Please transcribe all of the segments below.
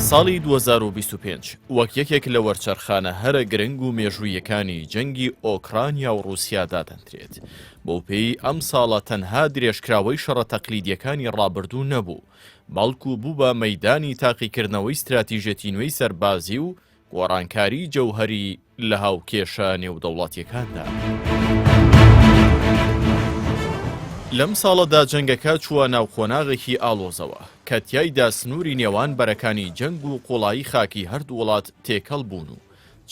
ساڵی دوو هەزار و بیست و پێنج وەک یەکێک لە وەرچەرخانە هەرە گرنگ و مێژووییەکانی جەنگی ئۆکرانیا و ڕووسیا دادەنرێت. بەوپێی ئەم ساڵە تەنها درێژکراوەی شەڕە تەقلیدیەکانی ڕابردوو نەبوو، بەڵکو بوو بە مەیدانی تاقیکردنەوەی ستراتیژەتی نوێی سەربازی و گۆڕانکاری جەوهەری لە هاوکێشە نێودەوڵەتیەکاندا. لەم ساڵەدا جەنگەکە چووە ناو قۆناغێکی ئاڵۆزەوە، کە تیایدا سنووری نێوان بەرەکانی جەنگ و قوڵایی خاکی هەردوو وڵات تێکەڵ بوون و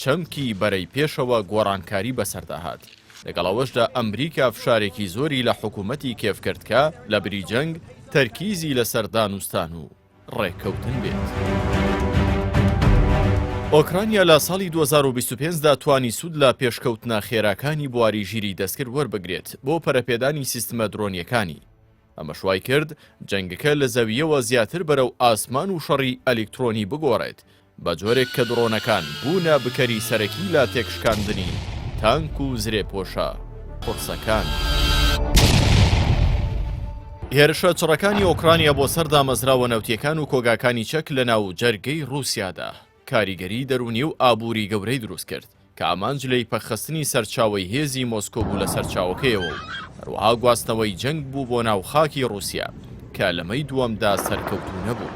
چەمکی بەرەی پێشەوە گۆڕانکاری بەسەردا هات، لەگەڵ ئەوەشدا ئەمریکا فشارێکی زۆری لە حکوومەتی کێف کرد کە لەبری جەنگ تەرکیزی لەسەر دانوستان و ڕێککەوتن بێت. ئۆکرانیا لە ساڵی دوو هەزار و بیست و پێنج دا توانی سوود لە پێشکەوتنە خێراکانی بواری ژیری دەستکرد وەربگرێت بۆ پەرەپێدانی سیستمە درۆنییەکانی، ئەمەش وایکرد جەنگەکە لە زەوییەوە زیاتر بەرەو ئاسمان و شەڕی ئەلیکترۆنی بگۆڕێت، بە جۆرێک کە دڕۆنەکان بوونە بکەری سەرەکی لە تێکشکاندنی تانک و زرێپۆشە قورسەکان. هێرشە چڕەکانی ئۆکرانیا بۆ سەر دامەزراوە نەوتییەکان و کۆگاکانی چەک لەناو جەرگەی ڕووسیادا کاریگەری دەروونی و ئابووری گەورەی دروست کرد، کە ئامانج لێی پەکخستنی سەرچاوەی هێزی مۆسکۆ بوو لە سەرچاوەکەیەوە و هەروەها گواستنەوەی جەنگ بوو بۆ ناو خاکی ڕووسیا، کە لە مەی دووەمدا سەرکەوتوو نەبوو.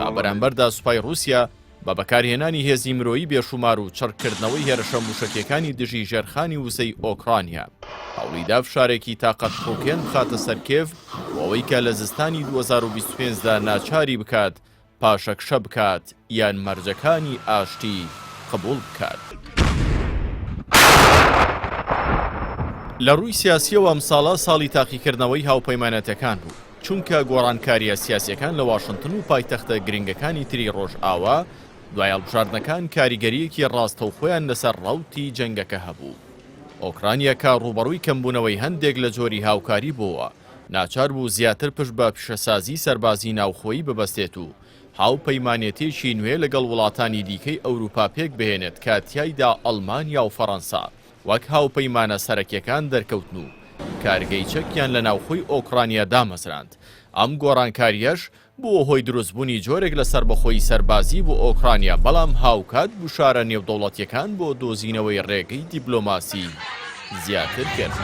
لە بەرامبەردا سوپای ڕووسیا بە بەکارهێنانی هێزی مرۆیی بێشوومار و چڕکردنەوەی هێرشە مووشەکییەکانی دژی ژێرخانی وزەی ئۆکڕانیا، هەوڵی دا فشارێکی تاقەتپڕووکێن بخاتە سەر کێڤ بۆ ئەوەی کە لە زستانی دوو هەزار و بیست و پێنج دا ناچاری بکات پاشەکشە بکات یان مەرجەکانی ئاشتی قبوڵ بکات. لە ڕووی سیاسیەوە ئەم ساڵە ساڵی تاقیکردنەوەی هاوپەیمانەتەکان بوو، چونکە گۆڕانکاریە سیاسیەکان لە واشنتن و پایتەختە گرنگەکانی تری ڕۆژئاوا دوای هەڵبژاردنەکان کاریگەریەکی ڕاستەوخۆیان لەسەر ڕەوتی جەنگەکە هەبوو. ئۆکرانیا کە ڕووبەڕووی کەمبوونەوەی هەندێک لە جۆری هاوکاری بۆوە، ناچار بوو زیاتر پشت بە پیشەسازی سەربازی ناوخۆیی ببەستێت و هاوپەیمانێتییەکی نوێ لەگەڵ وڵاتانی دیکەی ئەوروپا پێکبهێنێت کە تیایدا ئەڵمانیا و فەرەنسا وەک هاوپەیمانە سەرەکیەکان دەرکەوتن و کارگەی چەکیان لە ناوخۆی ئۆکڕانیا دامەزراند ئەم گۆڕانکارییەش بووە هۆی دروستبوونی جۆرێک لە سەربەخۆیی سەربازی بۆ ئۆکرانیا، بەڵام هاوکات گوشارە نێودەوڵەتییەکان بۆ دۆزینەوەی ڕێگەی دیبلۆماسی زیاتر کرد.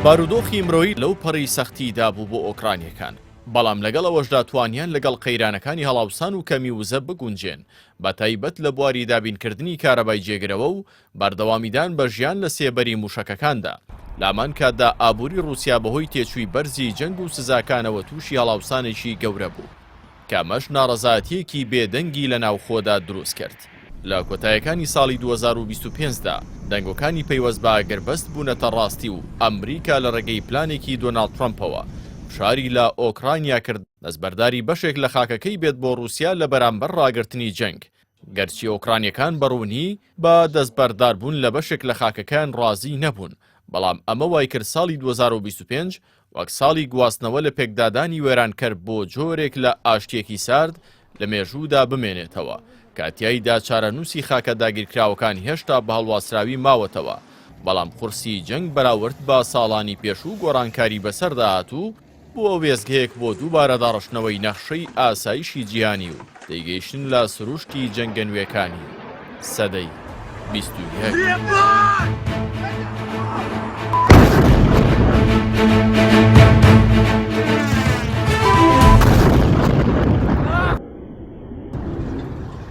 بارودۆخی مرۆیی لەو پەڕی سەختیدا بوو بۆ ئۆکرانیەکان بەڵام لەگەڵ ئەوەشدا توانیان لەگەڵ قەیرانەکانی هەڵاوسان و کەمی وزە بگونجێن بە تایبەت لە بواری دابینکردنی کارەبای جێگرەوە و بەردەوامیدان بە ژیان لە سێبەری مووشەکەکاندا، لامان کاتدا ئابووری ڕووسیا بەهۆی تێچووی بەرزی جەنگ و سزاکانەوە تووشی هەڵاوسانێکی گەورە بوو، کە ئەمەش ناڕەزایەتییەکی بێ دەنگی لە ناوخۆدا دروست کرد. لە کۆتایەکانی ساڵی دوو هەزار و بیست و پێنج دا، دەنگۆکانی پەیوەست بە ئاگربەست بوونەتە ڕاستی و ئەمریکا لە ڕێگەی پلانێکی دۆناڵد ترەمپەوە فشاری لە ئۆکرانیا کرد دەستبەرداری بەشێک لە خاکەکەی بێت بۆ ڕووسیا لە بەرامبەر ڕاگرتنی جەنگ گەرچی ئۆکرانیەکان بە ڕوونی بە دەستبەرداربوون لە بەشێک لە خاکەکەیان ڕازی نەبوون، بەڵام ئەمە وایکرد ساڵی دوو هەزار و بیست و پێنج وەک ساڵی گواستنەوە لە پێکدادانی وێرانکەر بۆ جۆرێک لە ئاشتییەکی سارد لە مێژوودا بمێنێتەوە کە تیایدا چارەنووسی خاکە داگیرکراوەکان هێشتا بە هەڵواسراوی ماوەتەوە بەڵام قورسی جەنگ بەراورد بە ساڵانی پێشوو گۆڕانکاری بەسەردا هاتوو بووە وێستگەیەک بۆ دووبارە داڕشتنەوەی نەخشەی ئاسایشی جیهانی و تێگەیشتن لە سروشتی جەنگە نوێکانی سەدەی بیست و یەک.